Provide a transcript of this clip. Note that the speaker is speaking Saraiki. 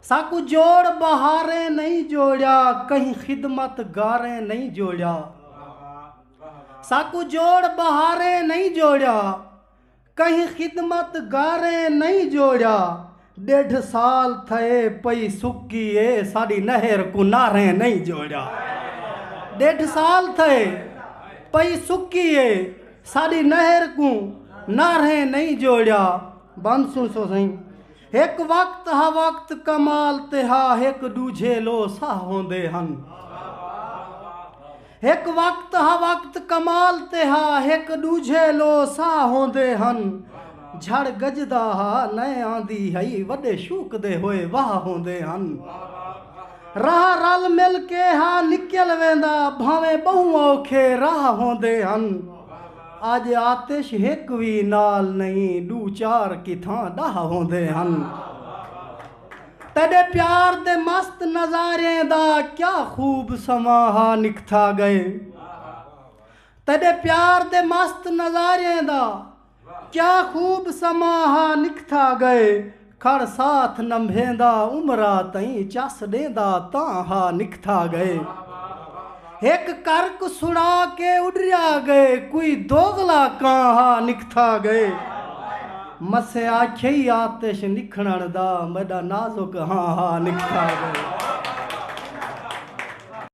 ساکوں جوڑ بہاریں نئیں جوڑیا کہیں خدمت گاریں نئیں جوڑیا ساکوں جوڑ بہاریں نئیں جوڑیا کہیں خدمت گاریں نئیں جوڑیا ڈیڈھ سال تھئے پئی سکی اے ساڈی نہر کوں ناریں نئیں جوڑیا ڈیڈھ سال تھئے پئی سکی اے ساڈی نہر کوں ناریں نئیں جوڑیا بند سن سو سائیں ہک وقت ہا وقت کمال تے ہا ہک ڈوجھے لو ساہ ہوندے ہن ہک وقت ہا وقت کمال تے ہا ہک ڈوجھے لو ساہ ہوندے ہن جھڑ گجدا ہا نئے آندی ہئی وڈے شوق دے ہوئے واہ ہوندے ہن راہ رل مل کے ہا نکل ویندا بھاویں بہوں اوکھے راہ ہوندے ہن اڄ آتش ہک وی نال نئیں ݙو چار کتھاں ݙاہ ہوندے ہن تیݙے پیار دے مست نظاریں دا کیا خوب سماں ہا نکھتا ڳئے تیݙے پیار دے مست نظاریں دا کیا خوب سماں ہا نکھتا ڳئے کھڑ ساتھ نمبھیندا عمرا تئیں چس ݙیندا تاں ہا نکھتھا ڳئے ہک کرک سݨا کے اݙریا ڳئے کوئی دوغلا کاں ہا نکھتھا ڳئے مسیں آکھیئی آتش نکھڑݨ دا میݙا نازک ہاں ہا نکھتھا ڳئے۔